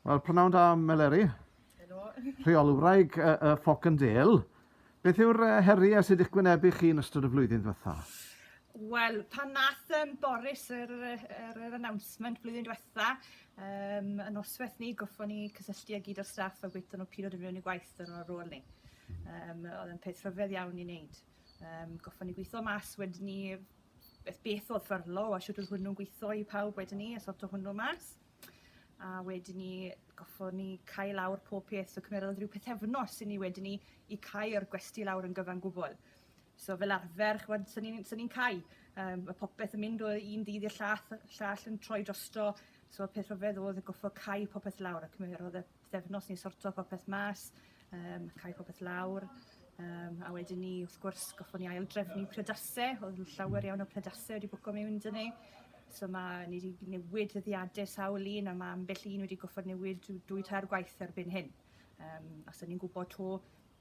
Wel, prynawn da, Meleri. Helo. Rheolwraig y, y Foc yn Del. Beth yw'r heri a sydd eich gwynebu chi yn ystod y flwyddyn ddiwetha? Wel, pan nath um, Boris yr, yr, yr announcement flwyddyn diwetha, um, y noswaith ni, goffon ni cysylltu â gyd o'r staff a gweithio nhw pilodd yn mewn i gwaith yn o'r rôl ni. Um, oedd yn peth rhyfedd iawn i wneud. Um, goffon ni gweithio mas wedyn ni beth beth oedd fyrlo a shwt oedd hwnnw'n gweithio i pawb wedyn ni a sorto hwnnw mas. A wedyn ni goffo ni cau lawr pob peth so cymerodd rhyw pethefnos i ni wedyn ni i cau'r gwesti lawr yn gyfan gwbl. So fel arfer ch'mod so ni'n so ni'n cau yym ma' popeth yn mynd o un ddydd i'r llath llall yn troi drosto so peth rhyfedd o'dd y goffo cau popeth lawr a cymerodd y pythefnos ni'n sorto popeth mas yym cau popeth lawr yym a wedyn 'ny wrth gwrs goffon ni ail drefnu priodase o'dd yn llawer iawn o priodase wedi bwco miwn 'dy ni so ma' ni 'di newid dyddiade sawl un a ma' ambell un wedi goffod newid dw- dwy tair gwaith erbyn hyn yym a so ni'n gwbo 'to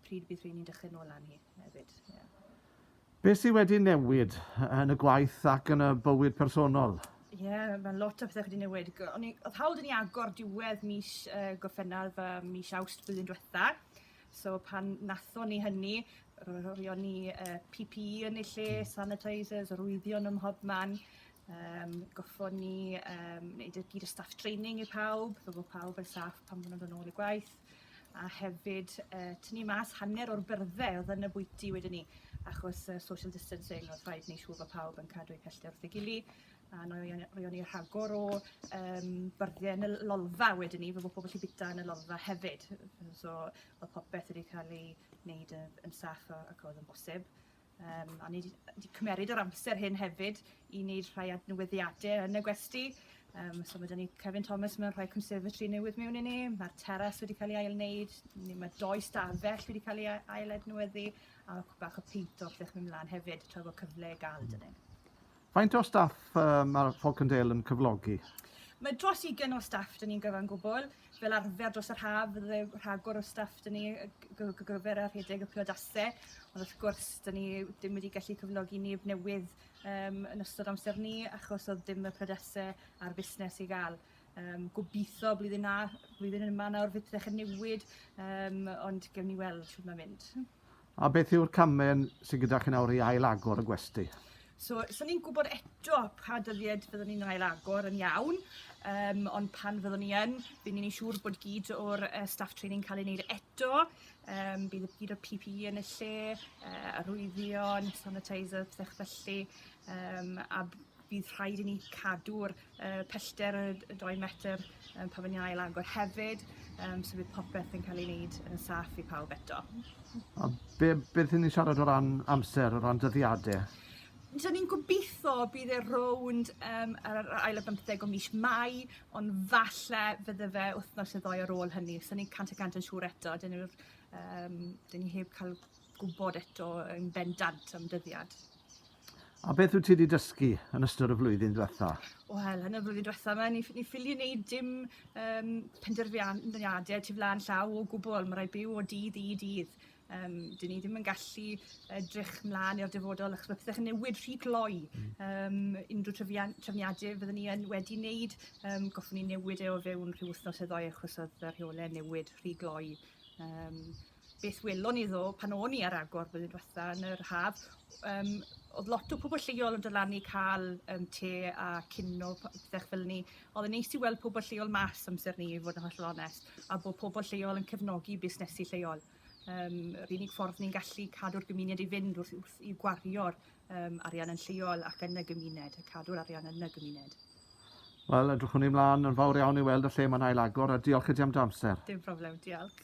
pryd bydd rheiny'n dechre nôl lan hi hefyd ie. Be sydd wedi newid yn y gwaith ac yn y bywyd personol? Ie, yeah, mae lot o pethau wedi newid. O'n i, oedd hawl dyn ni agor diwedd mis uh, Gorffennaf, uh, mis Awst blwyddyn diwetha. So pan natho ni hynny, roeddwn ni uh, PPE yn ei lle, hmm. sanitisers, rwyddion ym mhob man. Um, goffon ni um, wneud y gyd y staff training i pawb, fe fod pawb yn saff pan maen nhw'n dod nôl i gwaith. a hefyd yy tynnu mas hanner o'r byrdde o'dd yn y bwyty wedyn 'ny achos yy social distancing o'dd rhaid neu' siŵr bo' pawb yn cadw eu pellter wrth ei gily a no' i yy roion ni rhagor o yym byrdde yn y l- lolfa wedyn 'ny fe fo' pobol gallu bita yn y lolfa hefyd so o'dd popeth wedi ca'l ei neud yy yn saff a ac o'dd yn bosib. Um, a ni wedi cymeryd o'r amser hyn hefyd i wneud rhai adnewyddiadau yn y gwesti. Um, so mae dyn ni Kevin Thomas mewn rhai conservatory newydd mewn i ni, mae'r teras wedi cael ei ail wneud, mae doi stafell wedi cael ei ail adnewyddu, a mae bach o peint o'r ddechrau mynd mlaen hefyd, tra bod cyfle i gael dyn ni. Faint o staff mae'r Falcondale yn cyflogi? Mae dros ugain o staff dyn ni'n gyfan gwbl. Fel arfer dros yr haf fydde rhagor o staff dyn ni gyfer a rhedeg y priodasau. Ond wrth gwrs, dyn ni ddim wedi gallu cyflogi neb newydd um, yn ystod amser ni achos oedd dim y priodasau a'r busnes i gael. Um, gobeithio blwyddyn, na, blwyddyn yma nawr fydd yn newid, um, ond gewn ni weld siwr mae'n mynd. A beth yw'r camau sydd gyda chi nawr i ail-agor y gwesty? So, so ni'n gwybod eto pa dyddiad fyddwn ni'n ail-agor yn iawn, um, ond pan fyddwn ni yn, bydd ni'n ei siŵr bod gyd o'r uh, staff training cael ei wneud eto, um, bydd gyd o'r PPE yn y lle, uh, arwyddion, sanitizer, pethau felly, um, a Bydd rhaid i ni cadw'r yy pellter y y dou metr yym pan fy' ni'n ail agor hefyd yym so bydd popeth yn cael ei wneud yn y saff i pawb eto. A be' beth 'yn ni'n siarad o ran amser, o ran dyddiade? So ni'n gobitho bydd e rownd yym yr yr ail ar bymtheg o mis Mai ond falle fydde fe wythnos ne' ddou ar ôl hynny so ni'n cant y cant yn siŵr eto 'dyn ni'r yym 'dyn ni heb ca'l gwbod eto yn bendant am dyddiad. A beth wyt ti wedi dysgu yn ystod y flwyddyn diwetha? Wel, yn y flwyddyn diwetha yma, ni, ni ffili wneud dim um, penderfyniadau tu flaen llaw o gwbl. Mae rhaid byw o dydd i dydd. Um, dyn ni ddim yn gallu edrych mlaen i'r dyfodol achos mae pethau'n newid rhy gloi. Um, unrhyw trefniadau fyddwn ni yn wedi wneud, um, goffwn ni newid e o fewn rhyw wythnos y ddoi achos oedd y rheolau newid rhy gloi. Um, beth welon iddo pan o'n i ar agor blwyddyn diwetha yn yr haf yym o'dd lot o pobol lleol yn dod lan i ca'l yym te a cinio p- pethe fel 'ny. O'dd e'n neis i weld pobol lleol mas amser 'ny i fod yn hollol onest a bo' pobol lleol yn cefnogi busnesi lleol. Yym yr unig ffordd ni'n gallu cadw'r gymuned i fynd wrth wrth i gwario'r Yym, arian yn lleol ac yn y gymuned, a cadw'r arian yn y gymuned. Wel, edrychwn i mlaen yn fawr iawn i weld y lle mae'n ail-agor, a diolch i ti am dy amser. Dim problem, diolch.